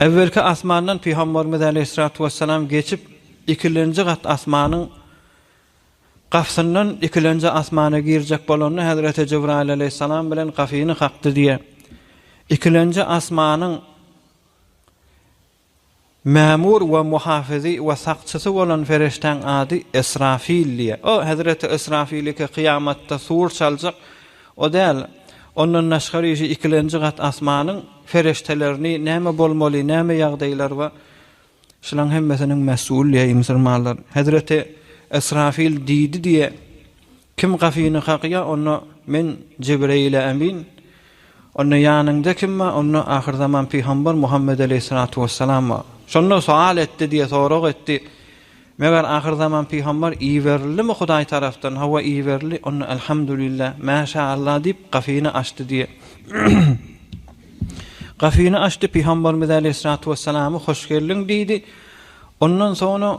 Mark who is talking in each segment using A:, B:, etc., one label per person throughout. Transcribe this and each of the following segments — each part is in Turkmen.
A: Äwwelki asmandan Pygamberimiz aleýhissalatu wessalam geçip, ikilenji gat asmanyň gapysyndan ikilenji asmana girjek bolanda Hezreti Jibraýyl aleýhissalam bilen gapyny kakdy diýýär. Ikilenji asmanyň Mämur we muhafyzy we sakçysy bolan perişdäň ady Esrafil diýýär. O hezreti Esrafiliki kyýamatda sur çaljak. O däl, ondan daşgary işi ikilenji gat asmanyň perişdelerini näme bolmaly, näme ýagdaýlar bar, şulaň hemmesiniň messul diýýär müsürmanlar. Hezreti Esrafil diýdi diýýär. Kim gapyny kakýar, onda Men, Jibreýil-ä emin, onda ýanyňda kim bar, onda ahyrzaman pygamber Muhammet aleýhissalatu wessalam bar. Şonda sowal etdi diýe sorag etdi, Meger ahyrzaman pygamber iberildimi Hudaý tarapdan? Hawa, iberildi. Onda Elhamdulillah, mä şa Allah diýip, gapyny açdy diýe. Gapyny açdy, pygamberimiz aleýhissalatu wessalamy hoş geldiň diýdi. Ondan soňra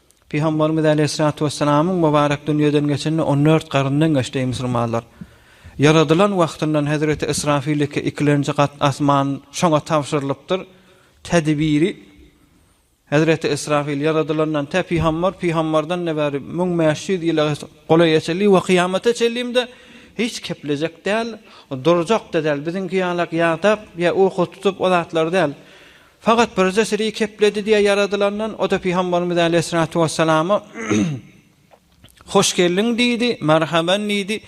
A: Pygamberimiz Aleýhissalatu Wessalamyň Mubarek dünýeden geçenine on dört garyndan geçdi, eý musulmanlar! Ýaradylan wagtyndan hezreti Israfil iki, ikilenji gat asman şoňa tabşyrylypdyr, tedbiri, hezreti Israfil ýaradylandan tä pygamber pygamberden-de bäri müň bäş ýüz ýyla golaýa çenli we kyýamata çenlimde hiç keplejek däl, durjak-da däl, biziňki ýalak ýadap ýa uky tutup o zatlar däl. Fakat birje siri kepledi diye yaradylandan o da Pygamberimiz Aleýhissalatu Wessalama Hoş geldiň diýdi, Merhaban diýdi.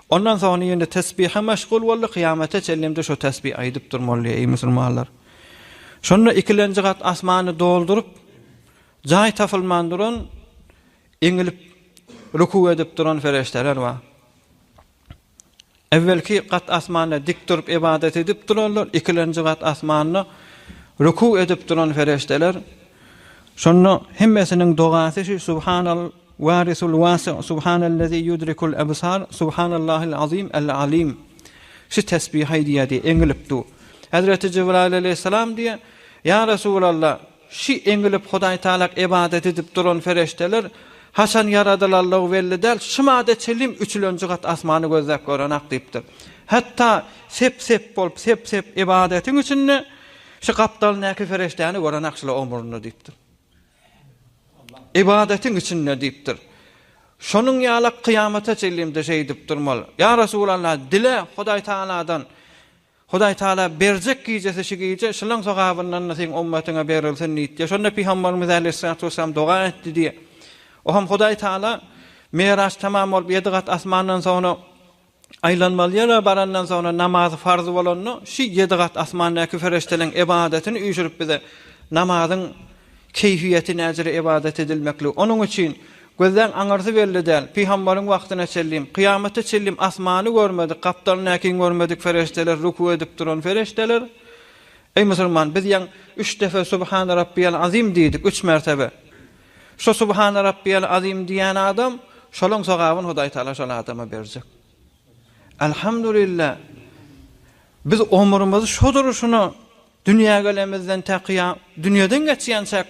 A: Ondan soňra ýene tesbihe meşgul boldy, kyýamete çenlem-de şo tesbihi aýdyp durmaly, eý musulmanlar. Şonda ikilenji gat asmany dolduryp, jaý tapylman duran, eňilip, rükû edip duran fereşdeler bar. Ewvelki gat asmanda dik durup ybadat edip duranlar, ikilenji gat asmanda ruku edip duran perişdeler. Şonda hemmesiniň dogasy şu Subhanal warisul wasi, Subhanallezi yudrikul ebsar, Subhanallahil azim el alim. Şu tesbihi aýdýardy, eňilip du. Hezreti Jibraýyl alaýhyssalam diýýär, Ýa Resulallah! Şu eňilip Hudaýtalak ybadat edip duran ferişdeler haçan ýaradylanlygy belli däl, şu mada çenli üçülenji gat asmany gözläp görenak diýipdir. Hatda sep-sep bolup, sep-sep ybadatyň içinde şu gapdalyndaky ferişdäni görenak şular omrunda diýipdir. Ybadatyň içinde diýipdir. Şonuň ýalak kyýamata çenli-de şeýdip durmaly. Ýa Resulallah, dile Hudaýtagaladan Hudaý Tagala berjek gijesi şu gije şylaň sogabyndan-da seň ymmatyňa berilsin diýdi diýýär. Şonda Pygamberimiz Äleyhissalatu wesselam doga etdi diýýär. O hem Hudaý Tagala Miraç tamam bolup ýedi gat asmandan soňra aýlanmaly ýere barandan soňra namazy farz bolanda şu ýedi gat asmandaky ferişdeleriň ybadatyn üýşürip bize namazyň Keýfiýeti näzire ybadat edilmekligi. Onuň üçin, gözleň aňyrsy belli däl. Pygambaryň wagtyna çenlem, kyýamata çenlem asmany görmedik, gapdalyny äkiň görmedik perişdeler, ruku edip duran perişdeler, Eý, musulman, biz ýaň üç depe Subhana Rabbiyal Azim diýdik, üç mertebe. Şo Subhana Rabbiyal Azim diýen adam, şolaň sogabyny Hudaý Taala şol adama berjek. Elhamdulillah, biz omurymyzy şo duruşuna Dünýä gelenimizden takyýa dünýeden geçýänçäk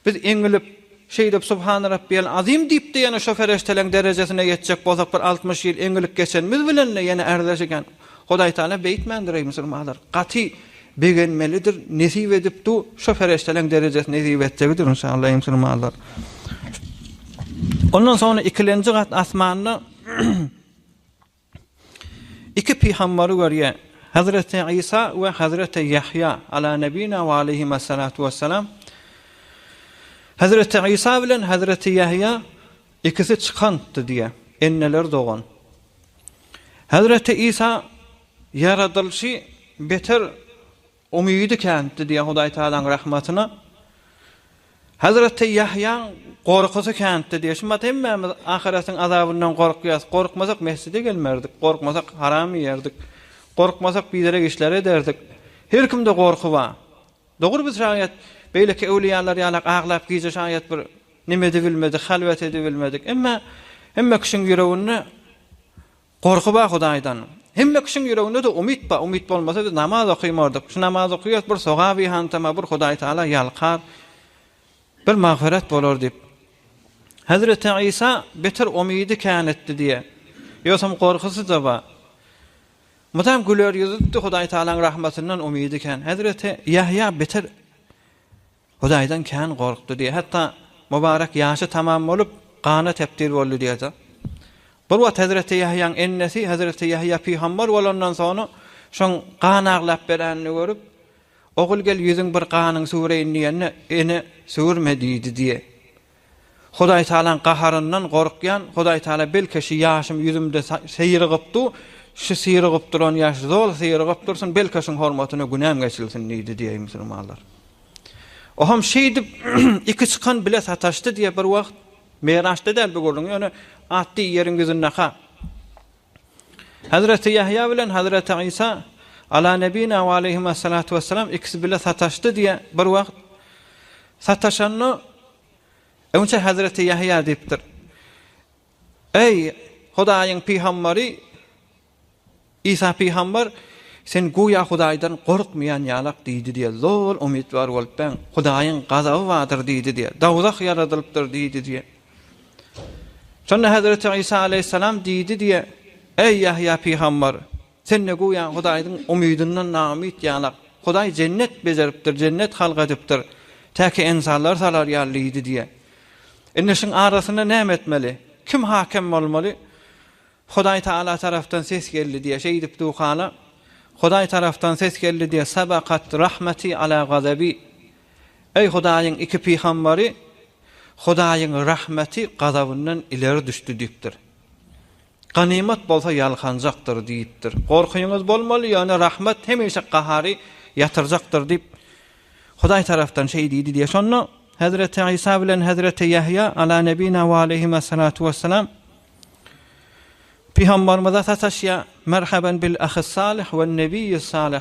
A: biz eňilip, şeýdip Subhana Rabbiyal Azim diýip-de ýene şo pereşteleň derejesine ýetjek bolsak bir altmyş ýyl eňilip geçenimiz bilen-de ýene ärzäş eken. Hudaýtagala beýtmändir eý musulmanlar. Gaty begenmelidir, nesip edip du şo pereşteleň derejesi nesip etjegidir inşallah eý musulmanlar. Ondan soňra ikilenji gat asmanda Iki pygambary görýär. Hazreti Isa we Hazreti Ýahýa, Ala nebina we aleyhima salatu wessalam. Hazreti Isa bilen Hazreti Ýahýa ikisi çykantdy diýýär. Enneler dogan. Hazreti Isa ýaradylyşy beter Umydy känti diýen Hudaý Tagalaň rahmatyna. Hazreti Ýahýaň gorkusy känti diýen. Şu mat hemmämiz ahyretiň azabyndan gorkýas. Gorkmasak mesjide gelmerdik. Gorkmasak haram iýerdik. Gorkmasak biderek işler ederdik. Her kimde gorky bar. Dogry biz şaýat beýleki öwliýalar ýalak aglap gije şaýat bir neme edibilmedik, halwet edibilmedik. Emma hemme kişiň ýüreginde Gorky bar Hudaýdan. Hemme kişiň ýüreginde-de umyt bar, umyt bolmasa biz namaz okaýmardyk. Şu namaz okaýarys, bir sogap yhantamar, bir Hudaý Tagala ýalkar, bir magfyrat bolar diýip. Hezreti Isa beter umydy kän etdi diýýär. Ýogsam gorkusy-da bar. Mydam güler ýüzlidi, Hudaý Tagalaň rahmatyndan umydy kän. Hezreti Ýahýa beter. Hudaýdan kän gorkdy diýýär. Hatda Mubarek ýaşy tamam bolup, gana tebdil boldy diýýär. Bir wagt hezreti Ýahýaň ennesi hezreti Ýahýa pygamber bolandan soňra şoň gan aglap berenini görüp, Ogul gel ýüzüň bir ganyň süwreýin diýende, Ene, süwürme diýdi diýýär. Hudaýtagalaň gaharyndan gorkýan, Hudaýtagala belki şu ýaşym ýüzümde syrygyp du, şu syrygyp duran ýaş zol syrygyp dursun, belki şuň hormatyna günäm geçilsin diýdi diýýär musulmanlar. Oham şeýdip iki çykan bile sataşdy diýýär bir wagt, Meraçda däl bu gürrüň, ýöne atdy ýeriň ýüzündeka. Hazreti Ýahýa bilen Hazreti Isa, Ala nebina we aleyhima salatu wessalam, ikisi bile sataşdy diýýär. Bir wagt sataşanda öňçe Hazreti Ýahýa diýipdir. Eý, Hudaýyň pygambary, Isa pygambar, sen göýä Hudaýdan gorkmaýan ýalak diýdi diýýär. Zol umytwar bolup, ben, Hudaýyň gazaby bardyr diýdi diýýär. Dowzah ýaradylypdyr diýdi diýýär. Şonda Hezreti Isa aleýhissalam diýdi diýe, Eý Ýahýa pygamber! Sende göýä Hudaýyň umydyndan naumyt ýalak. Hudaý jennet bejeripdir, jennet halk edipdir. Täki ensallar salar ýaly diýdi diýe. Indi şuň arasynda näme etmeli? Kim hakem bolmaly? Hudaý Taala tarapdan ses geldi diýe, şeýdip duhala, Hudaý tarapdan ses geldi diýe, Sabakat rahmeti ala gazabi. Eý, Hudaýyň iki pygambary Hudaýyň rahmeti gazabyndan ileri düşdi diýipdir. Ganymat bolsa ýalkanjakdyr diýipdir. Gorkyňyz bolmaly, ýöne rahmet hemişe gahary ýatyrjakdyr diýip, Hudaý tarapdan şeý diýdi diýýär. Şonda Hezreti Isa bilen Hezreti Ýahýa, Ala nebina we aleyhimessalatu wessalam, pygambarymyza sataşýar, Merhaben bil-ahis-salih wen-nebiyis-salih!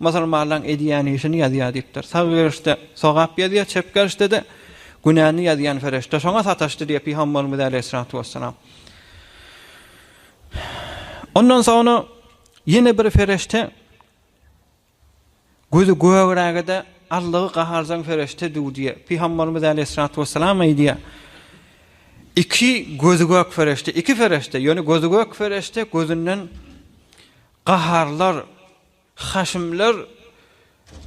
A: Musulmanlaň edýän işini ýazýar diýipdir. Sag gerişde sogap ýazýar, çep gerişde-de günäni ýazýan ferişde şoňa sataşdy diýýär pygamberimiz äleyhissalatu wessalam. Ondan soňra ýene bir ferişde gözi gögrägede Allahy gaharjaň ferişde dü diýýär. Pygamberimiz äleyhissalatu wessalam aýdýar. Iki gözi gök ferişde, iki ferişde, ýöne gözi gök ferişde gözünden Gaharlar, haşymlar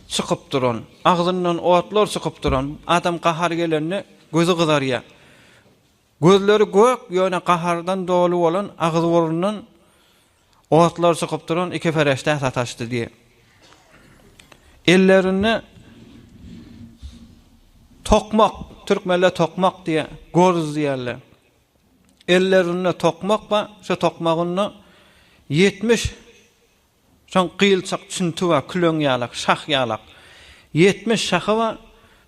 A: çykyp duran, agzyndan otlar çykyp duran, adam gahary gelende gözi gyzarýar. Gözleri gök, ýöne gahardan doly bolan, agyz-burundan otlar çykyp duran iki pereşdä sataşdy diýýär. Ellerinde tokmak, türkmenler tokmak diýýär, gorz diýýärler. Ellerinde tokmak bar, şo tokmagynda ýetmiş şoň gyýylçak çünti bar, küleň ýalak, şah ýalak. Ýetmiş şahy bar,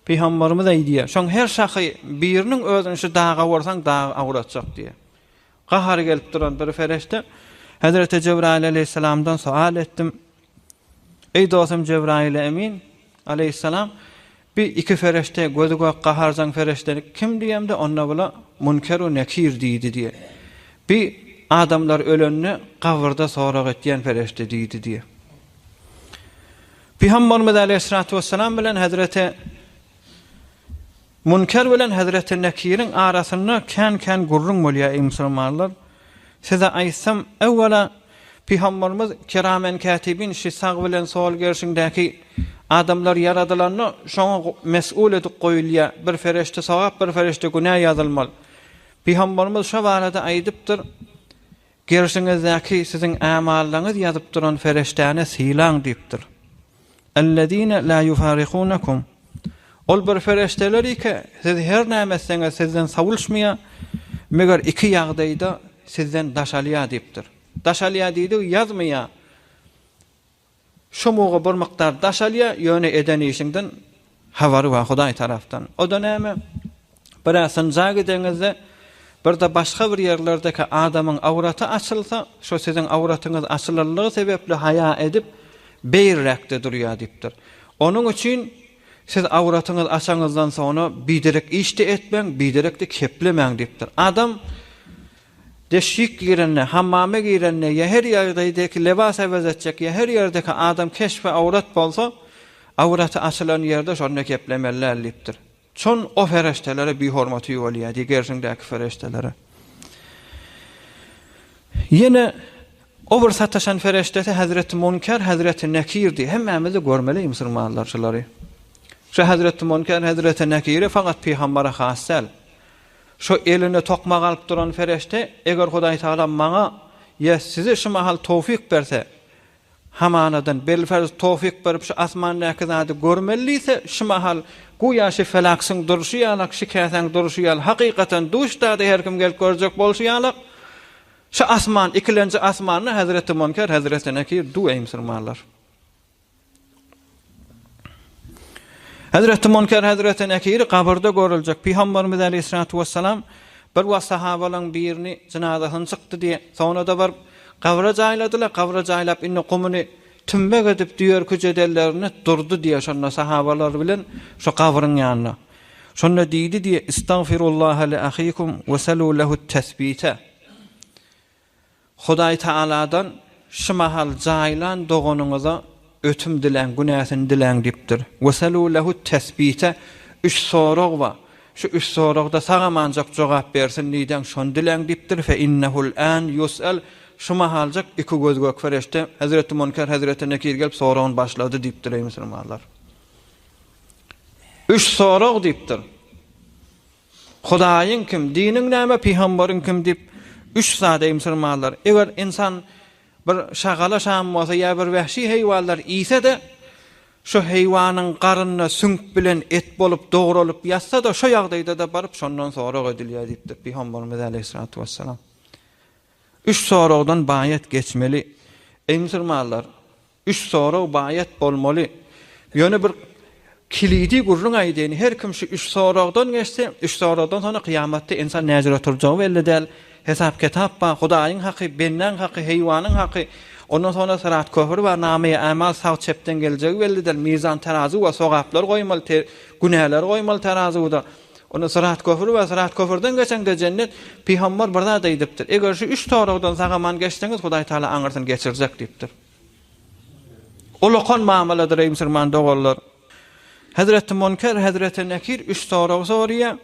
A: pygambarymyz aýdýar, şoň her şahy biriniň özüni şu daga ursaň, dag agratjak diýýär. Gahary gelip duran bir pereşde, Hezreti Jebraýyl aleýhissalamdan sowal etdim, Eý dostum Jebraýyl emin, aleýhyssalam, bi iki ferişde gözi gök gaharjaň ferişdelik kim diýemde onda bula Munker we Nekir diýdi diýe. Bi adamlar ölende gabyrda sorag etýän ferişde diýdi diýe. Pygambarymyz aleýhyssalatu wessalam bilen hezreti Münker bilen Hezreti Nekiriň arasynda kän-kän gürrüň bolýar, eý musulmanlar! Size aýtsam, Ewwela, Pygamberimiz kiramen kätibin şi sag bilen sol gerşiňdäki adamlar ýaradylanda şoňa mes'ul edip goýulýar, bir fereşte sogap, bir fereşde günä ýazylmaly. Pygamberimiz şo barada aýdypdyr, Gerşiňizdäki siziň ämallaňyz ýazyp duran Fereşdäni sylaň diýipdir. Ellezine la ýufarikunekum. Ol bir Fereşdeler ike, siz her näme etseňiz sizden sawulşmaýar, meger iki ýagdaýda sizden daş alýar diýipdir. Daş alýar diýdigi ýazmaýar. Şo muga bir mukdar daş alýa, ýöne eden işiňden habary bar Hudaý tarapdan. O-da näme? Bir-ä synja gideňizde, bir-de başga bir ýerlerdeki adamyň awraty açylsa, şo siziň awratyňyz açylanlygy sebäpli haýa edip, beýrräkde durýa diýipdir. Onuň üçin siz awratyňyz açanyňyzdan soňra biderek iş-de etmäň, biderek-de keplemäň diýipdir. Adam Deşik girende, hammama girende ýa her ýagdaýdaky lebas äwez etjek ýa her ýerdeki adam keşbi awrat bolsa, awraty açylan ýerde şonda geplemeli däl diýipdir. Çon o fereşdelere bihormaty ýuwalýar diý gerşiňdäki fereşdelere. Ýene o bir sataşan fereşdesi Hazreti Munkar, Hazreti Nekir diý. Hemmämizi görmeli musulmanlar şulary. Şu Hazreti Munkar, Hazreti Nekiri fakat pygambere has däl. Şu elinde tokmak alyp duran pereşde, eger Hudaýtagala maňa ýa size şu mahal towfyk berse, hamanadan, bilferz, towfyk berip şu asmandaky zady görmeli diýse, şu mahal göýä şu felaksyň durşy ýalak, şu käsäň durşy ýaly, hakykatan duş dady her kim gelip görjek bolşy ýalak, şu asman, ikilenji asmanda Hezreti Monker hezretine kir, duw eý musulmanlar! Hezreti Munker hezreti Nekiri gabyrda görüljek. Pygamberimiz aleyhissalatu vesselam bir wagt sahabalaryň birini jynazasyny çykdy diýe, soňra-da baryp gabra jaýladylar. Gabra jaýlap indi gumuny tümmek edip düýerki jedellerini durdy diýe, şonda sahabalar bilen şo gabryň ýanynda. Şonda diýdi diýe, Istagfirullaha li ahikum we selu lehut tesbite. Hudaýtagaladan, Şu mahal jaýlan doganyňyza ötüm diläň, günäsini diläň diýipdir. Wesalu lehu tesbite, Üç sorag bar. Şu üç soragda sag-amanjak jogap bersin diýdäň, şony diläň diýipdir. Fe innehul an ýus'al, Şu mahaljak iki gözgök perişde, hezreti Munker, hezreti Nekir gelip soragyny başlady diýipdir, eý musulmanlar! Üç sorag diýipdir. Hudaýyň kim, diniň näme, pygamberiň kim diýip üç zada ymsyrmanlar. Eger ynsan bir şagala şam bolsa ýa bir wähşi heýwanlar iýse-de, şo heýwanyň garynda süňk bilen et bolup dogralyp ýatsa-da, şo ýagdaýda-da baryp şondan sorag edilýär diýipdir pygamberimiz aleýhissalatu wessalam. Üç soragdan baýat geçmeli. Ymsyrmanlar. Üç sorag baýat bolmaly. Ýöne bir kilidi gürrüň aýdaýyn, her kim şu üç soragdan geçse, üç soragdan soň kyýamatda ynsan näjür oturjagy belli däl. Hesap-kitap bar, Hudaýyň haky, bendäň haky, heýwanyň haky. Ondan soňra syrat köpri bar, namaýy-amal sag-çepden geljegi belli däl. Mizan terazy bar, sogaplar goýmaly, te günäleri goýmaly terazuwda. Onda syrat köpri bar, syrat köprüden geçeňde jennet. Pygambar bir zat aýdypdyr, Eger şu üç soragdan sag-aman geçseňiz, Hudaý Tagala aňyrsyny geçirjek diýipdir. Ulakan mamaladyr eý musurman doganlar. Hezreti Munker Hezreti Nekir üç sorag sorýar.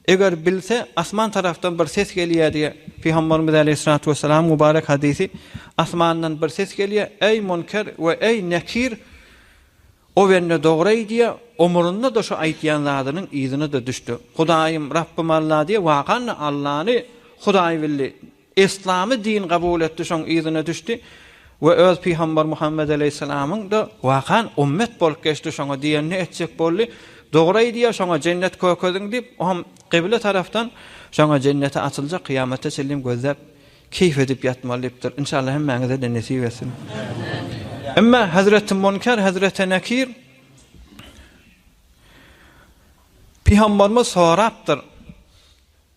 A: Eger bilse asman tarafdan bir ses gelýär diýär. Pygamberimiz Aleýhissalatu Wessalam mubarek hadisi asmandan bir ses gelýär. Eý Munker we eý Nekir o bende dogry aýdýar. Omurunda da şu aýtýan zadynyň yzyna da düşdi. Hudaýym Rabbym Alla diýär. Wakan da Allany Hudaý bildi. Yslamy din kabul etdi, şoň yzyna düşdi we öz pygamber Muhammet aleýhissalamyň-da wakan ummet bolup geçdi, şoňa diýenini etjek boldy. Dogry aýdýar, şoňa jennet kökediň diýip, o hem gyble tarapdan, şoňa jenneti açyljak, kyýamata çenlem gözläp, keýp edip ýatmaly diýipdir. Inşallah hemmäňize-de nesip etsin. Emma hezreti Munker, hezreti Nekir pygamberimiz sorapdyr,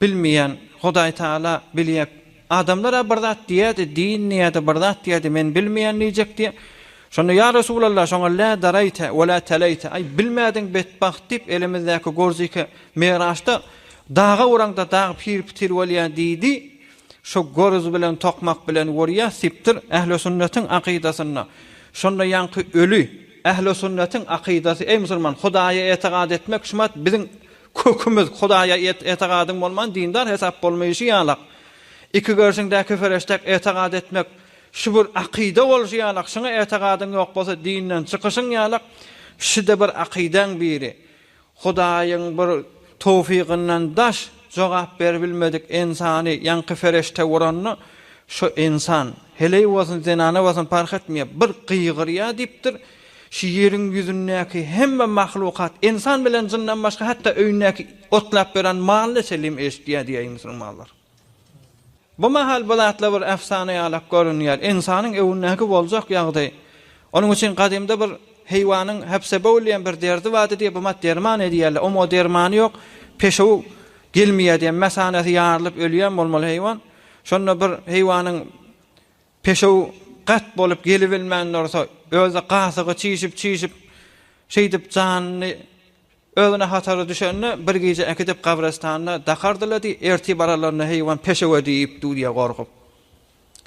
A: Bilmeýän, Hudaý Taala bilýär. Adamlar-a bir zat diýýärdi, din diýýärdi, bir zat diýýärdi, men bilmeýän diýjek diýýär. Şonda, Ýa Resulallah, şoňa lä daraýte we lä teläýte, aý, bilmädiň betbagt diýip, elimizdäki gorziki Miraçda daga uraňda dag pir-pitir bolýar diýdi. Şo gorz bilen tokmak bilen urýar, sipdir, ählisünnetiň akydasynda. Şonda ýaňky öli. Ählisünnetiň akydasy, eý, musulman, Hudaýa etigat etmek, şumat, biziň Kökümiz Hudaýa etigadyň bolman dindar hesap bolmaýşy ýalak. Iki görşüňdäki fereşdäk etigad etmek şu bir akyda bolşy ýalak, şuňa etigadyň ýok bolsa dinden çykyşyň ýalak, şuda bir akydaň biri. Hudaýyň bir towfygyndan daş jogap beribilmedik ensany ýaňky fereşde uranda şu ensan, heleý bolsun zenana bolsun parh etmeýär, bir gygyrýar diýipdir, Şu ýeriň ýüzündäki hemme mahlukat, ynsan bilen jyndan başga hatda öýündäki otlap ýören malyna çenlem eşidýär diýýär musulmanlar. Bu mahal bu zatlar bir efsana ýalak görünýär. Ynsanyň öwündäki boljak ýagdaý. Onuň üçin gadymda bir heýwanyň hepsebowl diýen bir derdi bardy diýip omat derman edýärler. Omo dermany ýok. Peşew gelmeýär diýen mesanesi ýarylyp ölýän bolmaly heýwan. Şonda bir heýwanyň Peşew gat bolup gelibilmän dursa, özi gasygy çişip-çişip, şeýdip janyny özüne hatary düşende, bir gije äkidip gabrystanda dakardy-la diý, ertir baralarynda heýwan peşewe diýipdir diýýär gorkup.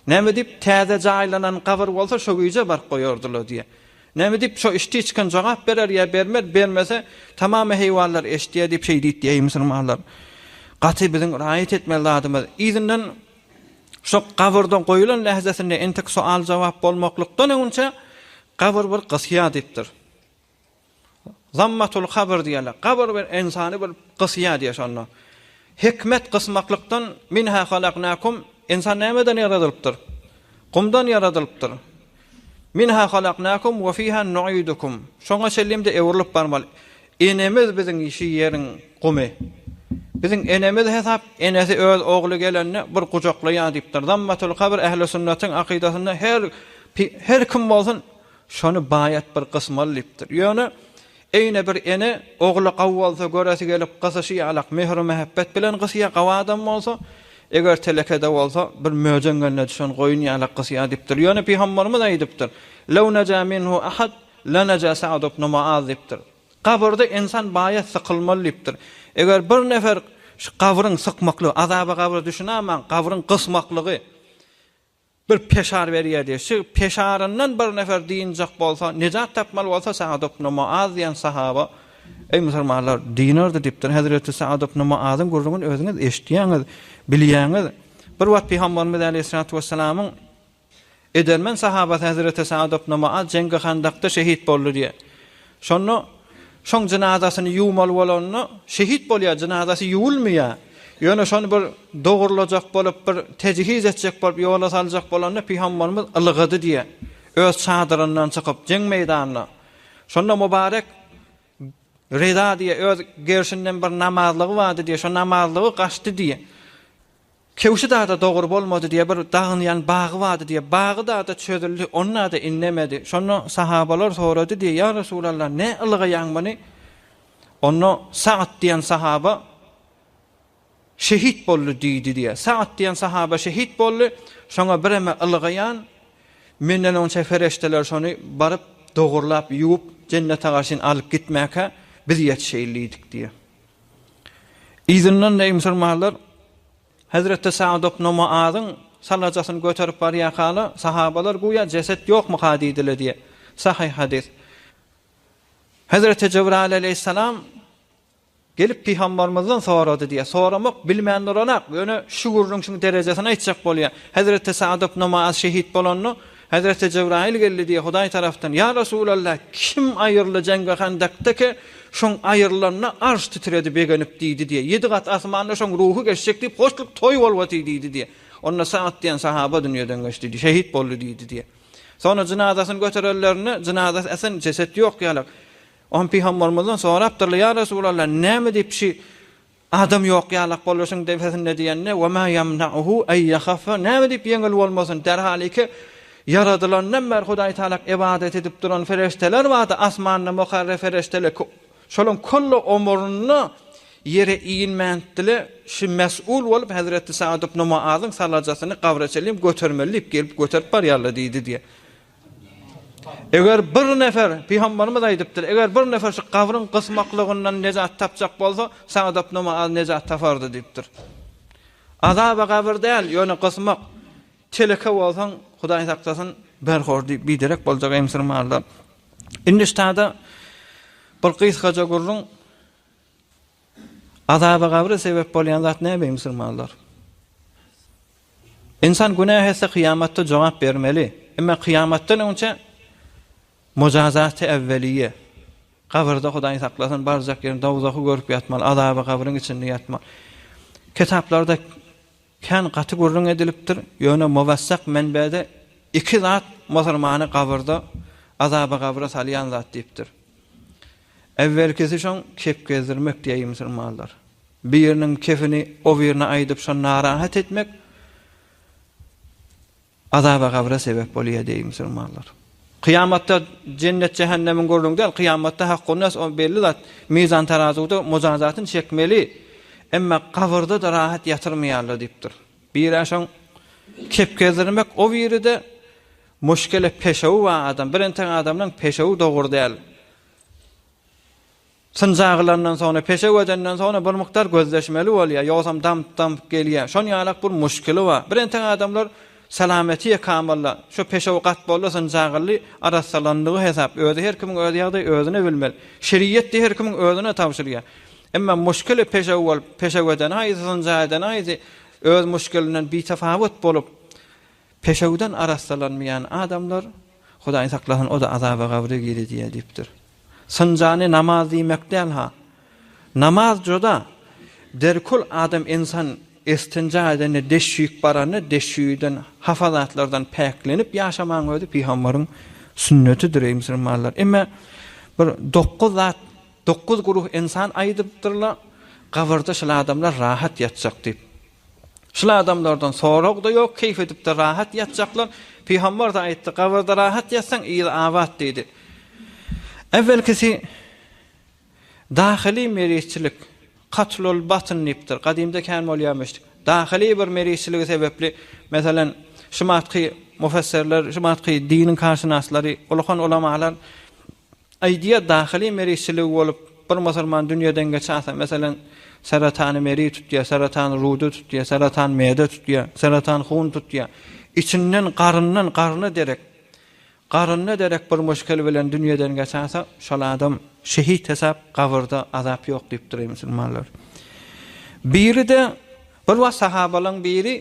A: Näme diýip, täze jaýlanan gabyr bolsa şo gije baryp goýardy-la diýýär. Näme diýip, şo iştiçkin jogap berer ýa bermez, bermese, tamam heýwanlar eşidýär diýip şeý diýdi diýýär. Eý musulmanlar! Gaty biziň raýat etmeli zadymyz. Yzyndan. Şu gabyrda goýulan lähzesinde entek soal-jogap bolmaklykdan öňünçä gabyr bir gysýa diýipdir. Zammatul kabr diýýärler. Gabyr bir ynsany bir gysýa diýýär şonda. Hikmet gysmaklykdan minha halaknakum, ynsan nämeden ýaradylypdyr? Gumdan ýaradylypdyr. Minha halaknakum we fiha nuidukum. Şoňa çenli-de öwrülip barmaly. Enemiz biziň şu ýeriň gumy. Biziň enemiz hesap, enesi öz ogly gelende bir gujaklaýar diýipdir. Zammatul kabr ähli sünnetiň akydasynda her her kim bolsun şony baýat bir gysmaly diýipdir. Ýöne Eýne bir ene ogly gawy bolsa göresi gelip gysyşy ýalak mehru mähepbet bilen gysýa gawy adam bolsa eger telekede bolsa bir möjeň gelne düşen goýun ýalak gysýa dipdir ýöne pygamberimiz aýdypdyr Lew neja minhu ahad leneja Sa'd ibn Muaz dipdir Gabyrda insan baýa sykylmaly dipdir eger bir nefer şu gabryň sykmaklygy azaba gabra düşünamaň gabryň gysmaklygy Bir peşar berýär diýýär. Şu peşaryndan bir nefer dynjak bolsa, nejat tapmaly bolsa, Sa'd ibn Mu'az diýen sahaba, Eý, musulmanlar, dynardy diýipdir. Hezreti Sa'd ibn Mu'azyň gürrüňini özüňiz eşitýäňiz, bilýäňiz. Bir wagt Pygamberimiz aleýhissalatu wessalamyň edermen sahabasy hezreti Sa'd ibn Mu'az jeňgi Handakda şehit boldy diýýär. Şonda şoň jynazasyny ýuwmaly bolanda, şehit bolýar, jynazasy ýuwulmaýar. Ýöne şony bir dogurlajak bolup, bir tejihiz etjek bolup, ýola saljak bolanda pygamberimiz ylgady diýýär. Öz çadyryndan çykyp, jeň meýdanyna. Şonda Mubarek Ryza diýýär, öz gerşinden bir namazlygy bardy diýýär. Şo namazlygy gaçdy diýýär. Kewşi dada dogry bolmady diýe bir dagynýan bagy bardy diýe bagy dada çözüldi ony dada innemedi şonda sahabalar sorady diýe ýa Resulallah ne ylgaýaň muny onda Sa'd diýen sahaba şehit boldy diýdi diýe Sa'd diýen sahaba şehit boldy şoňa bireme ylgaýan menden onça fereşteler şony baryp dogurlap ýuwup jennete garşyn alyp gitmäke biz ýetişeýin diýdik diýe. Yzyndan eý musulmanlar, hezreti Sa'd ibn Muazyň sallajasyny göterip barýarkala, sahabalar göýä jeset ýokmyka diýdiler diýýär. Sahyh hadys. Hezreti Jebraýyl aleýhissalam gelip pygambarymyzdan sorady diýýär. Soramak bilmän duranak, ýöne şu gürrüň şuň derejesini aýtjak bolýar. Hezreti Sa'd ibn Muaz şehit bolanda, Hezreti Jebraýyl geldi diýýär Hudaý tarapdan, Ýa Resulalla, kim aýrylyjäň we Handakdaky şoň aýrylanda arş titredi, begenip diýdi diýýär, Ýedi gat asmanda şoň ruhy geçjek diýip hoşluk toý bolwati diýdi diýýär. Onda Saad diýen sahaba dünýeden geçdi diýýär, şehit boldy diýdi diýýär. Soňra jynazasyny göterenlerinde jynazasy esen jeset ýok ýalak. Oňa pygambermizden sorapdyrlar, Ýa Resulalla, näme diýip şi Adam ýok ýalak boluşyň depesinde diýende, Ve ma yamna'uhu en yahaffa, näme diýip ýeňil bolmasyn, derhaliki ýaradylandan bäri Hudaý Tagala ybadat edip duran perişdeler bardy, asmanda mukarreb perişdeler, şolaryň kölle omurynda ýere inmändiler, şu mes'ul bolup hezreti Sa'd ibn Mu'azyň salajasyny gabra çenli götermeli diýip gelip göterip barýarlar diýdi diýýär. Eger bir nefer, Pygamberimiz aýdypdyr, eger bir nefer şu gabryň gysmaklygyndan nejat tapjak bolsa, sagdap namaz nejat tapardy diýipdir. Azaba gabyr däl, ýöne gysmak, teleke bolsaň, Hudaý saklasyn, berhor diýip biderek boljak emsirmarlar. Indi ştada bir gysgaja gürrüň. Azaba gabra sebep bolýan zat näme eý musulmanlar? Ynsan günäh etse kyýamatda jogap bermeli. Emma kyýamatdan öňçe mujazaty äwweliýe. Gabyrda Hudaý saklasyn barjak ýerini dowzahy görüp ýatmaly, azaba gabryň içinde ýatmaly. Kitaplarda kän gaty gürrüň edilipdir, ýöne muwassak menbede iki zat musulmany gabyrda azaba gabra salýan zat diýipdir. Äwwelkisi şoň kep gezdirmek diýäýi musulmanlar. Biriniň kepini o birine aýdyp şony narahat etmek azaba gabra sebäp bolýar diýäýi musulmanlar. Kyýamatda jennet jähennemiň gürrüňi däl, kyýamatda haqqunnas o belli zat, mizan tarazuwda mujazatyny çekmeli, emma gabyrda-da rahat ýatyrmaýarlar diýipdir. Biri-ä şoň kep gezdirmek o biri-de Muşkele peşewi bar adam. Bir entek adamlaň peşewi dogry däl. Synja gylandan soňra, peşew edenden soňra bir mukdar gözleşmeli bolýar. Ýogsam damp-damp gelýär. Şon ýalak bir muşkili bar. Bir entek adamlar salameti ýekamalla. Şo peşewi gat boldy, synja gyldy, arassalandygy hesap. Özi her kimiň öz ýagdaýy özüne bilmeli. Şeriýetde her kimiň özüne tabşyrýar. Emma muşkili peşew bolup, peşew edeni haýsy, synja edeni haýsy, öz muşkilinden bitafawut bolup, Peşewden arassalanmaýan adamlar, Hudaý saklasyn, o-da azaba gabry girizýär diýipdir. Synjany namaz diýmek däl-ha. Namaz joda, derkul adam ensan istinja edende, deşüýip baranda, deşüýiden, hapa zatlardan päklenip ýaşamagyň özi pygamberiň sünnetidir, eý musulmanlar. Emme bir dokuz zat, dokuz guruh ensan aýdypdyrlar, gabyrda şul adamlar rahat ýatjak diýip. Şul adamlardan sorag-da ýok, keýp edip-de rahat ýatjaklar. Pygamber-de aýtdy, Gabyrda rahat ýatsaň, yzy abat diýdi. Äwelkisi dahyly merizçilik, katlul batn diýipdir. Gadymda kän bolýarmyş. Dahyly bir merizçiligi sebäpli, meselem, şumatky mufessirler, şumatky diniň kärşynaslary, ulkan ulamalar, Idea dahyly merizçiligi bolup, bir musulman dünýeden geçäse, meselem, seretany meriz tutýar, seretan ruda tutýar, seretan meýede tutýar, seretan hun tutýar. Içinden, garyndan, garyna derek, garynda derek bir muşkel bilen dünýeden geçäse, şol adam şehit hesap, gabyrda azap ýok diýipdir, eý musulmanlar. Biri-de, bir wagt sahabalaň biri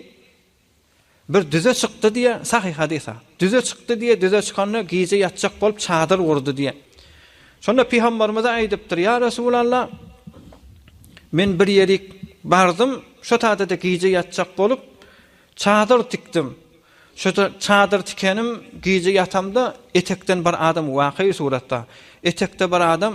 A: Bir düze çykdy diýýär, sahyh hadys-a. Düze çykdy diýýär, düze çykanda gije ýatjak bolup çadyr gurdy diýýär. Şonda pygamberimize aýdypdyr, Ýa Resulalla, men bir ýerik bardym, şo tada-da gije ýatjak bolup, çadyr tikdim. Şo çadyr tikenim gije ýatamda etekden bir adam wakyý suratda. Etekde bir adam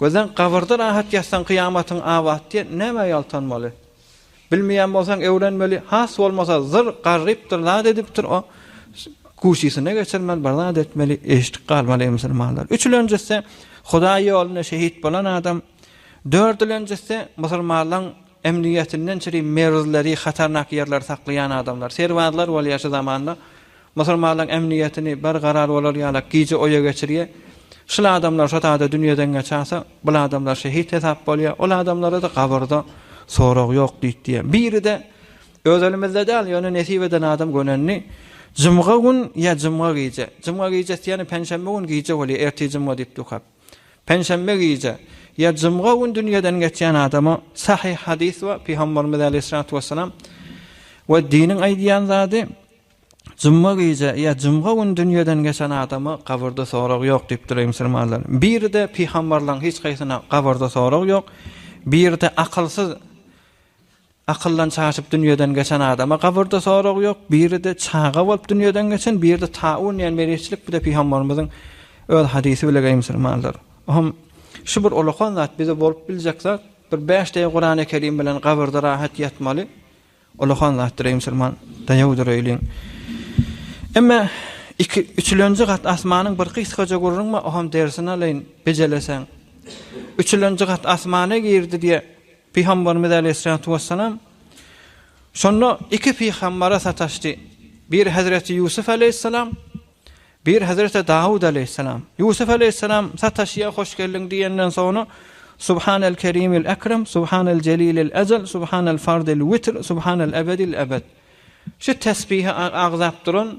A: Gözleň gabyrda rahat ýatsaň kyýamatyň abat diýen nämä ýaltanmaly? Bilmeýän bolsaň öwrenmeli has bolmasa zyr garrypdyr zat edipdir o kuşysyna geçirmeli bir zat etmeli eşdik galmaly eý musulmanlar üçülenjisi hudaý ýolunda şehit bolan adam dördülenjisi musulmanlaň Emnigetinden çyri meruzleri hatarnak ýerleri saklaýan adamlar, serbazlar bolýar şu zamanda. Musulmanlaň emnigetini bar garar bolar ýalak gije oýa geçirýe. Şul adamlar şo tada dünýeden geçasa, bul adamlar şehit hesap bolýa. Ol adamlarada gabyrda sorag ýok diýtdiýe. Biride öz elimizde däl ýöne nesip eden adam gönendi. Jumga gün ýa jumga gije. Jumga gijesi ýene penşenbe gün gije bolýa ertir jumga diýip dukap. Penşenbe gije ýa jumga gün dünýeden geçýän adama sahyh hadys we Pygamberimiz aleýhissalatu wessalam we diniň aýdýan zady jumga gije ýa jumga gün dünýeden geçen adama gabyrda sorag ýok diýipdir eý musulmanlar. Biride pygamberleriň hiç haýsyna gabyrda sorag ýok. Biride akylsyz Akyldan çaşyp dünýeden geçen adama gabyrda sorag ýok, biride çaga bolup dünýeden geçen, biride taun diýen meriçlik bir-de pygambarymyzyň öz hadysy bile geý musulmanlar. Ohm şu bir olakan zat bize bolup biljek zat, bir bäş deý Kurany Kerim bilen gabyrda rahat ýatmaly olakan zatdyr eý musulman daýaw dureýliň. Emme iki üçülenji gat asmanyň bir gysgaja gurruňma ohm dersini alaýyn bejeleseň. Üçülenji gat asmana girdi diýe Pygamberimiz aleýhissalatu wessalam şonda iki pygambere sataşdy. Biri Hazreti Ýusuf aleýhissalam, biri Hazreti Dawud aleýhissalam. Ýusuf aleýhissalam sataşýa hoş geldiň diýenden soňra Subhanal Kerimil Ekrem, Subhanal Jelilil Ejel, Subhanal Fardil Witr, Subhanal Ebedil Ebed. Şu tesbihi agzap duran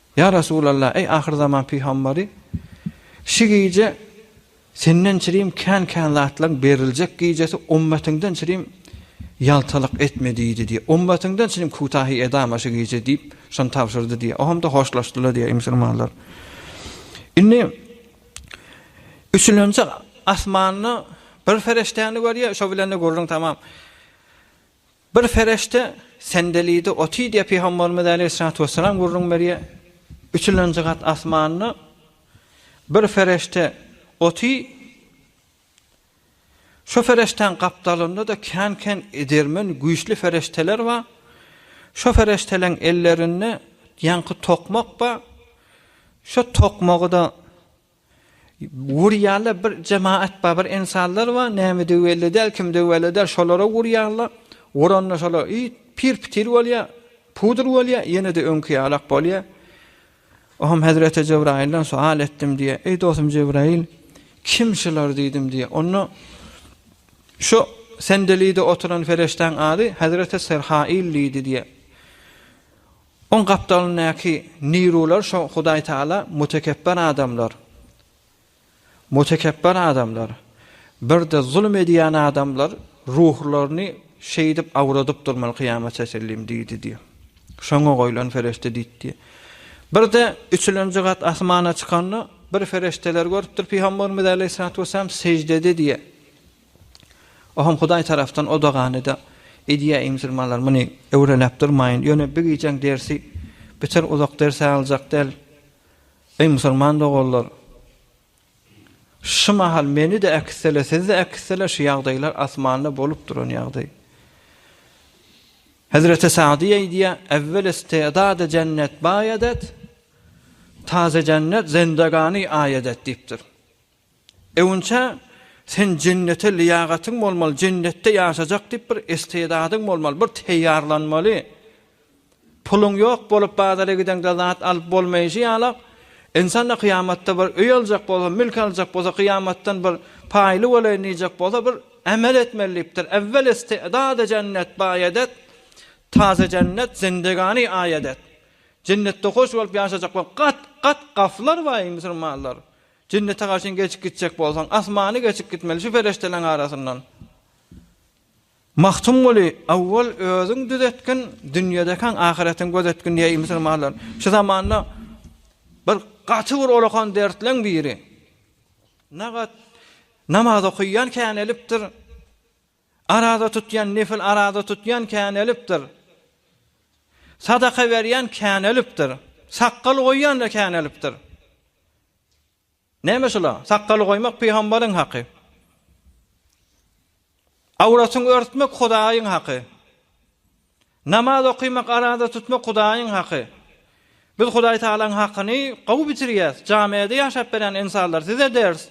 A: Ýa Resulallah, eý ahyrzaman pygambary, şü gije Senden çirim kän-kän zatlaryň beriljek gijesi, ummatiňden çirim ýaltalyk etme diýdi diýip, ummatiňden çirim kutahi edama şü gije diýip, şony tabşyrdy diýip, ohamda hoşlaşdylar diýip, eý musulmanlar! Indi üçülenji asmanda bir fereştäni görýär, şo bilen-de gürrüň tamam. Bir perişde sendelidi, oty diýýär Pygamberimiz aleýhissalatu wessalam gürrüň berýär, Üçülenji gat asmanda bir perişde oty, şo perişdäň gapdalynda-da kän-kän edermen güýçli perişdeler bar, şo perişdeleň ellerinde ýaňky tokmak bar, şo tokmagy-da Urýarlar bir jemaat bar bir ensanlar bar nämedigi belli däl kimdigi belli däl şolara urýarlar uranda şolar it pir pitir bolýar pudur bolýar ýenede öňki ýalak bolýar Oham hezreti Jebrailden sual etdim diýe eý dostum Jebrail kim şular diýdim diýe onda şu sendelide oturan feriştäň ady hezreti Serhail diýdi diýe Oň gapdalyndaky nirular şo Hudaý Taala mutekepbir adamlar, mutekepbir adamlar, birde zulum edýän adamlar ruhlaryny şeýdip awradyp durmaly kyýama çetellim diýdi diýip. Şoňa goýlan ferişde diýdi. Birde üçülenji gat asmana çykanda bir ferişdeler görüpdir Pygamberimiz Aleýhissalatu Wesselam seždede diýe. Oham Hudaý tarapdan o dogany-da edýä Imsirmanlar muny öwreläp durmaýyn ýöne bi gijäň dersi biter uzak ders-ä aljak däl Eý musurman doganlar şu mahal meni-de äkitsele sizi-de äkitsele şu ýagdaýlar asmanda bolup duran ýagdaý Hezreti Sagdy aýdýa Evvel istedade jennet baý edet taze jennet zendagani aý edet diýipdir. Öňçä sen jennete lyýagatyň bolmaly, jennetde ýaşajak diýip bir istedadyň bolmaly, bir teýýarlanmaly. Puluň ýok bolup bazara gideňde zat alyp bolmaýşy ýaly, ynsan-da kyýamatda bir öý aljak bolsa, mülk aljak bolsa, kyýamatdan bir paýly bolaýyn diýjek bolsa, bir amel etmeli diýipdir. Äwwel istedady jennet baýadat, taze jennet zindegani aýadat. Jennetde hoş bolup ýaşajak bolan gat-gat gaflar bar, musulmanlar. Jennete garşyn geçip gitjek bolsaň, asmany geçip gitmeli şu perişdeleň arasyndan. Magtymguly, awwal özüň düzetgin, dünýedekäň ahyretiň gözetgin diýýär musulmanlar. Şu zamanda bir gaty bir olakan dertleň biri. Nagat namaz okaýan känelipdir. Araza tutýan nefil araza tutýan känelipdir. Sadaka berýän känelipdir. Sakgal goýýan-da känelipdir. Näme şula? Sakgaly goýmak pygamberiň haky. Awratyň örtmek Hudaýyň haky. Namaz okymak, araza tutmak Hudaýyň haky. Biz Hudaý Tagalaň hakyny gowy bitirýäs. Jamiada ýaşap berýän ynsanlar size ders.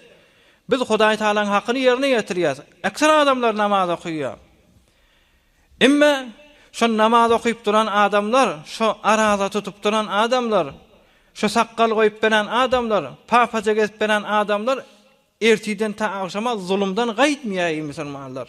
A: Biz Hudaý Tagalaň hakyny ýerine ýetirýäs. Ekser adamlar namaz okýar. Emme şo namaz okyp duran adamlar, şo araza tutup duran adamlar, şo sakgal goýup berän adamlar, papaja gezip berän adamlar ertiden ta agşama zulumdan gaýtmaýar eý musulmanlar.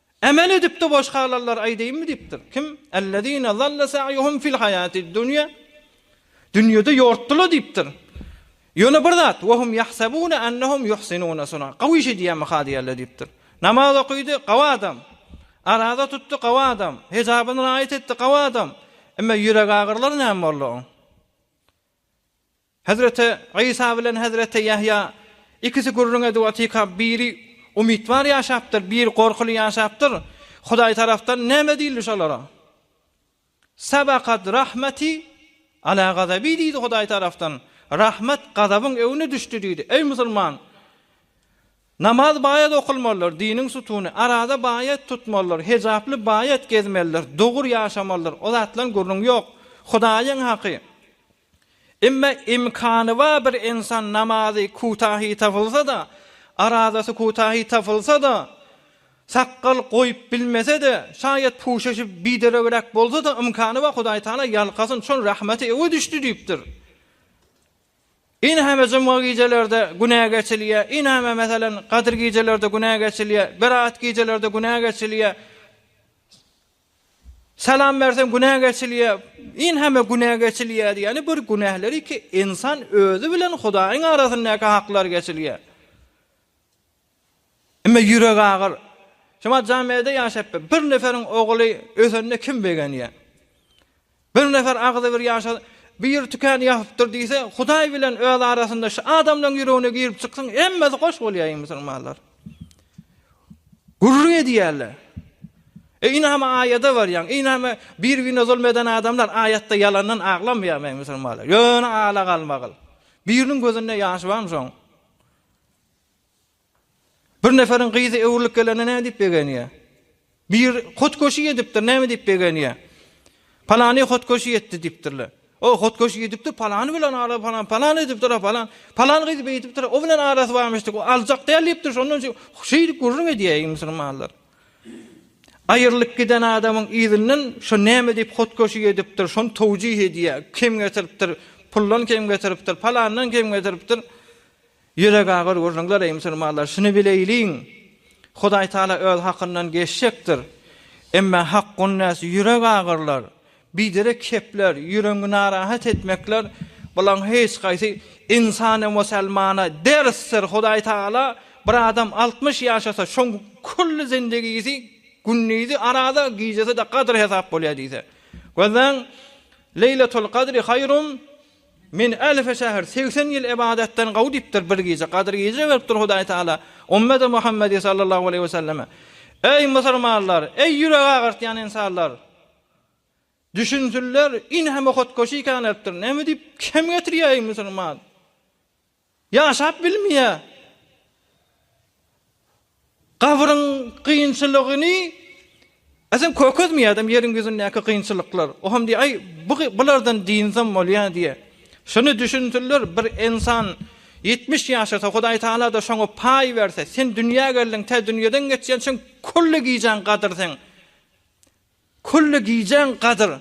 A: Emel edip-de boş galanlar aýdaýynmy diýipdir. Kim? Ellezine zalla sa'yuhum fil hayatid dunya. Dünýede ýortdylar diýipdir. Ýöne bir zat, we hum yahsabuna annahum yuhsinuna suna. Gowy iş edýärmi ha diýerler diýipdir. Namaz okydy, gowy adam. Araza tutdy, gowy adam. Hejabyny raýat etdi, gowy adam. Emma ýürek agyrylar näme boldy oň? Hezreti Isa bilen hezreti Ýahýa ikisi gürrüň edip otyka biri umytbar ýaşapdyr biri gorkuly ýaşapdyr Hudaý tarapdan näme diýildi şolara? Sabakat rahmeti ala gazabi diýdi Hudaý tarapdan rahmet gazabyň öwüne düşdi diýdi eý musulman namaz baýat okulmalydyr diniň sutuny araza baýat tutmalydyr hejaply baýat gezmelidir dogur ýaşamalydyr o zatlan gürrüň ýok Hudaýyň haky Emma imkany bar bir insan namazy kutahi tapylsa-da, arazasy kutahi tapylsa-da, sakgal goýup bilmese-de, şaýat puşaşy bideregräk bolsa-da imkany bar Hudaý Taala ýalkasyn çün rahmeti öňe düşdi diýipdir. Inhame jumga gijelerde günä geçilýär, inhame meselem gadyr gijelerde günä geçilýär, berat gijelerde günä geçilýär. Salam berseň günä geçilýär. Yn heme günä geçilýär diýýäni bir günähler iki ynsan özi bilen Hudaýyň arasyndaky haklar geçilýär. Emme ýürek agyr. Şemal Jamede ýaşapdyr. Bir neferiň ogly ösende kim begenýär. Bir nefer agzybir ýaşa bir tükän ýapypdyr diýse, Hudaý bilen öz arasynda şu adamlaň ýüregine girip çyksyn, hemmesi hoş bolýaýyň musulmanlar. Gürrüň edýärler. E inama aýada barýaň, inama bir birine zulm eden adamlar aýatda ýalandan aglamýarmy eý musulmanlar? Ýöne ala galmagyl. Biriniň gözünde ýaş barmy şoň? Bir neferiň gyzy öwrülip gelende näme diýip begenýär? Bir hotkoşy edipdir, näme diýip begenýär? Palany hotkoşy etdi diýipdirler. O hotkoşy edipdir, palany bilen ara falan, palan edipdir, falan. Palan gyz beýdipdir, o bilen arasy barmyşdy. O aljak däl diýipdir, şondan üçin şeýdip gürrüň edýär musulmanlar. Aýrylyp giden adamyň yzyndan şu näme diýip hotkoşy edipdir, şony towjih edýär. Kim getiripdir? Puldan kim getiripdir? Palandan kim getiripdir? Ýüregagyr gürrüňler eý musulmanlar, şuny bileýliň, Hudaýtagala öz hakyndan geçjekdir. Emma hak gunnäsi ýüregagyrlar, biderek kepler, ýüregiňi narahat etmekler, bularyň hiç gaýsy ynsana musulmana dersdir. Hudaýtagala bir adam altmyş ýaşasa, şoň külli zindigisi gündizi arada, gijesi-de gadyr hesap bolýar diýse. Gözläň, Leýletul Gadri haýrun Men ählisi şäher segsen ýyl ybadatdan gowy diýipdir, bir gije, gadyr gije beripdir Hudaý Tagala, Ummeti Muhammedi sallallahu aleýhi weselleme, Eý, musulmanlar, eý, ýürek agyrtýan ynsanlar! Düşünsinler, ine hem ohatgoşy ikäneipdir, näme diýip, kem getirýär, eý, musulman! Ýaşap bilmeýär. Gabryň kynçylygyny Eýsem kökezmeýär adam ýeriň ýüzündäki kynçylyklar. O hem diýýär, aý, bu bulardan dynsam bolýar diýýär. Şuny düşünsinler, bir ensan ýetmiş ýaşasa, Hudaý Tagala-da şoňa paý berse, sen dünýä geldiň, tä dünýeden geçýänçäň külli gijäň gadyrsyň. Külli gijäň gadyr.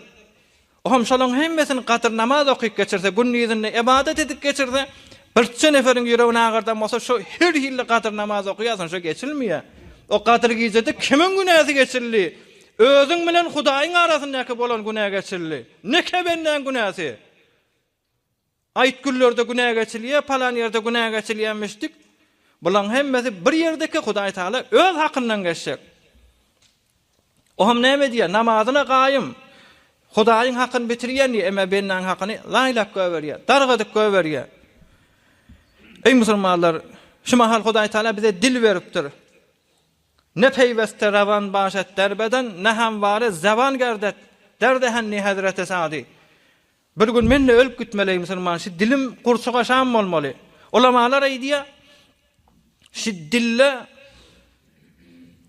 A: O hem şolaryň hemmesini gadyr namaz okyp geçirse, gündizini ybadat edip geçirse, birçe neferiň ýüregini agyrdan bolsa, şo her hilli gadyr namaz okaýarsyň, şo geçilmeýär. O gadyr gijede kimiň günäsi geçildi? Özüň bilen Hudaýyň arasyndaky bolan günä geçildi. Neke bendäň günäsi? Aýtgüllerde günä geçilýär, palan ýerde günä geçilýär müşdik. Bulaň hemmesi bir ýerdeki Hudaý Tagala öz hakyndan geçjek. O hem näme diýýär? Namazyna gaýym. Hudaýyň hakyny bitirýän diýýär, emma bendaň hakyny laýlap goýberýär, dargadyp goýberýär. Eý musulmanlar, şu mahal Hudaý Tagala bize dil beripdir. Ne peýweste rawan baş et derbeden, ne hem wara zeban gerd et, derde hendi hezreti sady. Bir gün men-de ölüp gitmelei musulman şi dilim gurçuk aşan bolmaly. Ulamalar aýdýa şi dilde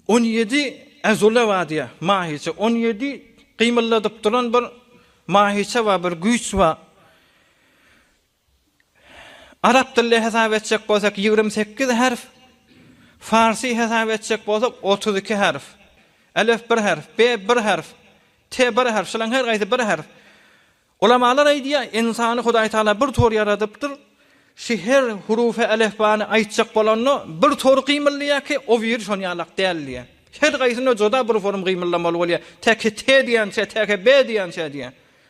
A: on ýedi äzule bar diýä, mahiçe, on ýedi gymyldadyp duran bir mahiçe bar, bir güýç bar. Arap dilde hesap etjek bolsak ýigrimi sekiz harf, farsy hesap etjek bolsak otuz iki harf. Elef bir harf, be bir harf, te bir harf, şolaryň her gaýsy bir harf. Ulamalar aýdýar, ynsany Hudaý Tagala bir tor ýaradypdyr, şu her hurufa elefbany aýtjak bolanda bir tor gymyldýar ki, o biri şon ýalak däl diýýär. Her gaýsynda juda bir forum gymyldamaly bolýar, te ki te diýençä, te ki be diýençä diýýär.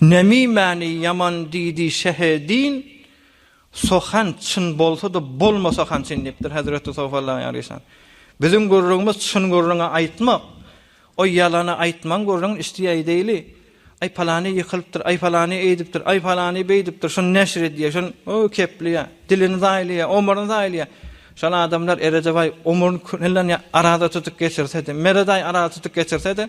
A: Nemimäni ýaman diýdi Şeheddin, Sohan çyn bolsa-da, bolmasa han çyn diýipdir, hezreti Sofallah ýaryşan. Biziň gürrüňimiz çyn gürrüňi aýtmak, o ýalany aýtmaň gürrüňini üsti aýdaýly. Aý palany ýykylypdyr, aý palany eýdipdir, aý palany beýdipdir, şuny neşir edýä, şuny, o keplýä, dilini zaýlaýa, omuryny zaýlaýa. Şol adamlar Erejebaý omuryny küllän ýa araza tutup geçirse-de, Meredaý araza tutup geçirse-de,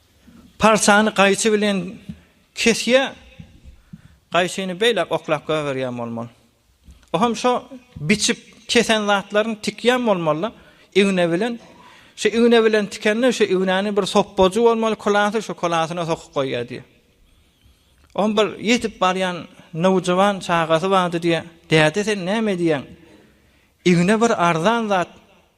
A: Parsany gaýçy bilen kesýä, gaýçyny beýläk oklap goýberýän bolmaly. O hem şo biçip kesen zatlaryny tikýän bolmaly-da, igna bilen. Şu igna bilen tikende şu ignäni bir sopbajy bolmaly, kulasy şu kulasyna sokup goýýar diýýär. O hem bir ýetip barýan nowjuwan çagasy bardy diýýär. Däde sen näme diýýäň? Igna bir arzan zat.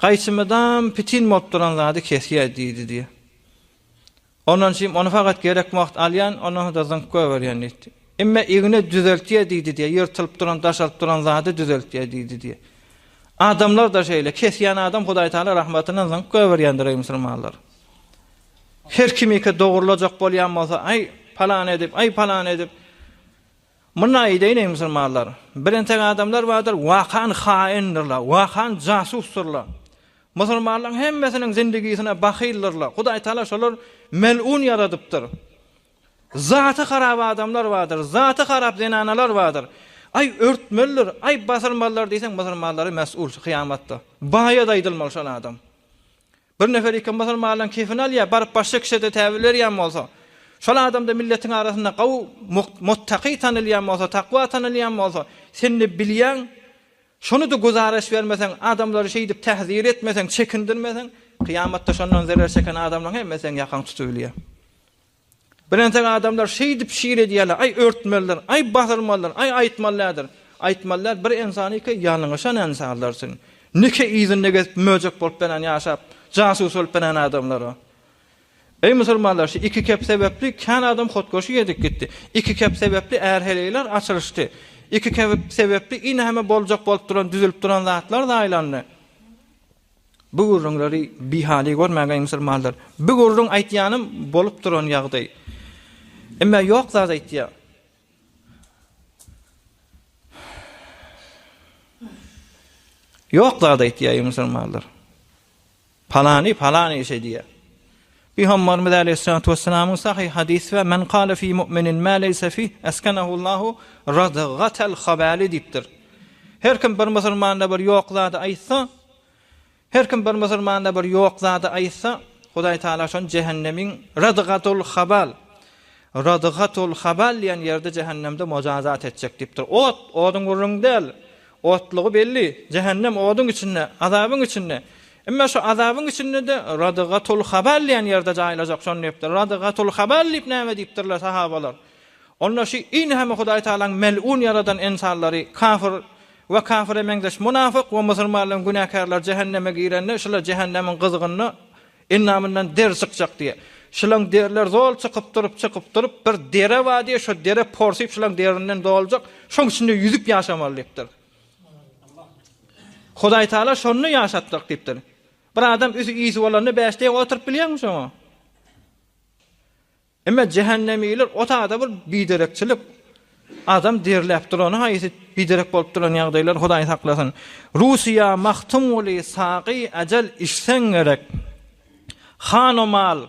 A: Gaýsymyzam pitin bolup duran zady kesýär diýdi diýýär. Ondan şim ony fakat gerek wagt alýan, ondan soňra zyňyp goýberýän diýdi. Imme igna düzeltýär diýdi diýýär, ýyrtylyp duran, daşaryp duran zady düzeltýär diýdi diýýär. Adamlar-da şeýle, kesýän adam Hudaý Taala rahmatyndan zyňyp goýberýändir eý musulmanlar. Her kimiki dogurlajak bolýan bolsa, aý, palan edip, aý, palan edip, Mundan aýdaýyn-eý musulmanlar, bir entek adamlar bardyr, wakan haýyndyr-la, wakan jasusdyr-la. Musulmanlaryň hemmesiniň zindigisine bahyldyrlar. Hudaý Taala şolar mel'un ýaradypdyr. Zaty harap adamlar bardyr, zaty harap zenanalar bardyr. Aý örtmelidir, aý basyrmalydyr diýseň musulmanlary mes'ul şu kyýamatda. Baýa-da aýdylmaly şol adam. Bir nefer iki musulmanyň kefini alýar, baryp başga kişide täwil berýän bolsa, şol adamda milletiň arasynda gowy muttaký tanalýan bolsa, takwa tanalýan bolsa, sen ne bilýäň, şony-da güzaraş bermeseň, adamlary şeýdip täzir etmeseň, çekindirmeseň, kyýamatda şondan zerer çeken adamlaryň hemmesi seň ýakaňy tutup bilýär. Bir entek adamlar şeýdip şir edýärler, aý örtmelidir, aý basyrmalydyr, aý aýtmalydädir, aýtmalydädir, bir ensaniki ýalňyşan ensanlar üçin, nike yzynda gezip möjek bolup beren ýaşap, jasus bolup beren adamlara. Eý musulmanlar şu iki kep sebäpli kän adam hotgoşy edip gitdi, iki kep sebäpli är heleýler açylyşdy, iki kep sebäpli ine heme boljak bolup duran düzülip duran zatlar zaýlandy. Bu gürrüňleri bihaly görmäge musulmanlar. Bu gürrüň aýtýanym bolup duran ýagdaý. Emma ýok zat aýtýar. Ýok zat aýtýar musulmanlar. Palany palany şeýdýär. Pygamberimiz aleýhissalatu wesselamyň sahyh hadysy we men kale fi mu'minin ma leýse fih eskenehullahu radgatal habali diýipdir. Her kim bir musulmanda bir ýok zady aýtsa, her kim bir musulmanda bir ýok zady aýtsa, Hudaý Taala şony jehennemiň radgatul habal, radgatul habal diýen ýerde jehennemde mojazat etjek diýipdir. Ot, oduň gürrüňi däl. Otlugy belli, jähennem oduň içinde, azabyň içinde. Emma şu azabyň içinde-de Radygatul Habal diýen ýerde jaýlajak, şony diýipdir. Radygatul Habal diýip näme diýipdirler sahabalar? Onda şi ini hem Hudaý Tagalaň melun ýaradan ynsanlary, kafir we kafire meňzeş munafyk we musulmanlaryň günäkärleri jähenneme girende, şular jähennemiň gyzgynda Endamyndan der çykjak diýe. Şylaň derler zol çykyp durup, çykyp durup, bir dere bar diýe, şo dere porsyp şylaň derinden doljak, şoň içinde ýüzüp ýaşamaly diýipdir. Hudaýtagala şonda ýaşatjak diýipdir. Bir adam üsi-isi bolanda bäş deýin oturyp bilýärmi şoňa? Emma jähennemiler o taýda bir biderekçilik, adam derläp durany haýsy biderek bolup duran ýagdaýlar Hudaý saklasyn. Russiýa, Magtymguly, Sagy, Ajal içseň gerek. Hanomal,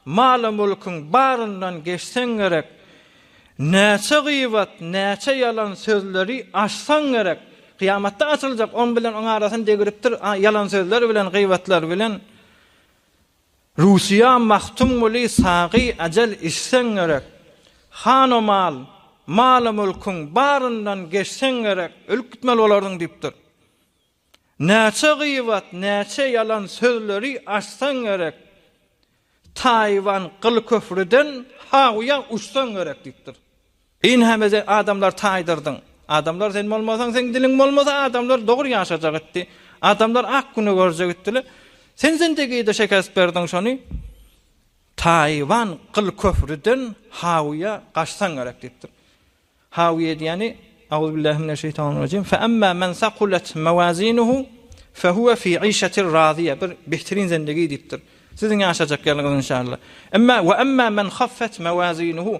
A: Maly mülküň baryndan geçseň gerek. Näçe gyýbat, näçe ýalan sözleri açsaň gerek. Kyýamatda açyljak oň bilen oň arasyny degiripdir ýalan sözler bilen gyýbatlar bilen. Russiýa Magtymguly sagy ajal içseň gerek, Hanomal, maly-mülküň baryndan geçseň gerek, ölüp gitmeli bolardyň diýipdir. Näçe gyýbat, näçe ýalan sözleri açsaň gerek, Taýwan gylyköprüden ha uýa uçsaň gerek diýipdir. Ynham ede adamlar taýdyrdyň. Adamlar sen bolmasaň, seň diliň bolmasa adamlar dogry ýaşajak etdi. Adamlar ak güni görjek etdiler. Sen zindigide şekest berdiň şony. Taýwan gyl köprüden hawyýa gaçsaň gerek diýipdir. Hawyýa diýýäni Auzubillahiminesheytanirrajim fe amma men sakulet mawazinuhu fe huwa fi işetir raziýa bir behtirin zindigi diýipdir. Siziň ýaşajak ýeriňiz inşallah. Emma we emma men haffet mawazinuhu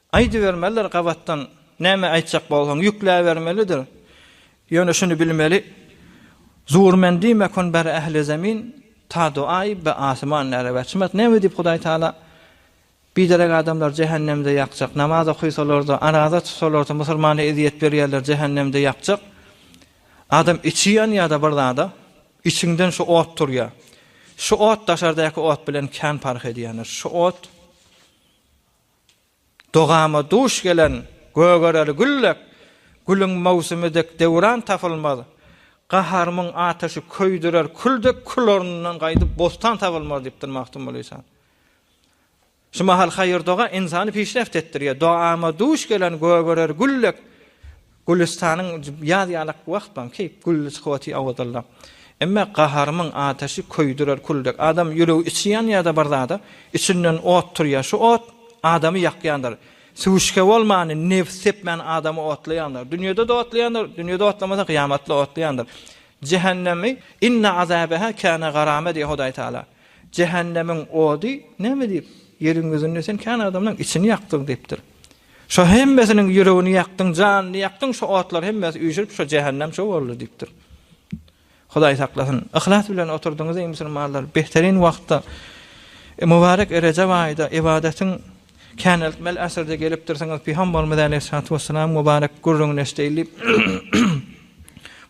A: Aýdybermelidir gabatdan, näme aýtjak bolsaň, ýükläbermelidir. Ýöne şuny bilmeli, Zur men diýmek on ber ähli zemin, ta duaý be asyman näre wäçimat. Näme diýip Hudaý Taala biderek adamlar jähennemde ýakjak. Namaz okysalarda, araza tutsalarda, musulmana ezýet berýärler, jähennemde ýakjak. Adam içi ýanýada bir zada, içiňden şu ot turýa. Şu ot daşardaky ot bilen kän parh edýändir. Şu ot. Dogama duş gelen gögereli gül dek, Gülüň möwsümi dek döwran tapylmaz. Gaharymyň ataşy köýdürer kül dek, Kül ornundan gaýdyp bostan tabylmaz diýipdir Magtymguly Ysan. Şu mahal haýyr-doga ynsany pişreft etdirýär. Dogama duş gelen gögereli gül dek, Gülüstanyň ýaz ýalak wagt baň ki, gülli skwoti awadallap. Emme gaharymyň ataşy köýdürer kül dek. Adam ýüregi içi ýanýa-da bir zada, içinden ot turýa. Şu ot adamy ýakýandyr. Süwüşge bolmany, nebis sepmäni adamy otlaýandyr. Dünýede-de otlaýandyr, dünýede otlamasa gyýamatda otlaýandyr. Jähennemi, Inna azabeha kana garama diýýä Hudaý Taala. Jähennemiň ody näme diýip, ýeriň ýüzünde sen kän adamlaň içini ýakdyň diýipdir. Şo hemmesiniň ýüregini ýakdyň, janyny ýakdyň, şo otlar hemmesi üýşürip şo jähennem şo boldy diýipdir. Hudaý saklasyn. Yhlas bilen oturdyňyz eý musulmanlar, behterin wagtda e, mübarek Rejep aýda ybadatyň käneltmeli äsirde gelipdirsiňiz. Pygamberimiz aleyhissalatu vesselam mübarek gürrüňini eşdeýin diýip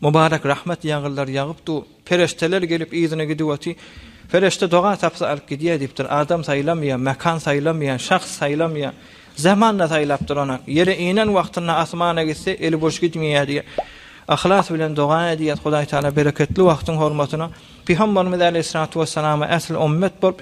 A: mübarek rahmet ýagyldar ýagypdy. Perişdeler gelip yzyna gidip oty. Perişde doga tapsa alyp gidýär diýipdir. Adam saýlamaýar, mekan saýlamaýar, şahs saýlamaýar. Zaman-da saýlap duranok. Ýere inen wagtynda asmana gitse eli boş gitmeýär diýip, yhlas bilen doga edýär, Hudaý Taala bereketli wagtyň hormatyna Pygamberimiz Aleýhissalatu wessalama äsli ümmet bolup,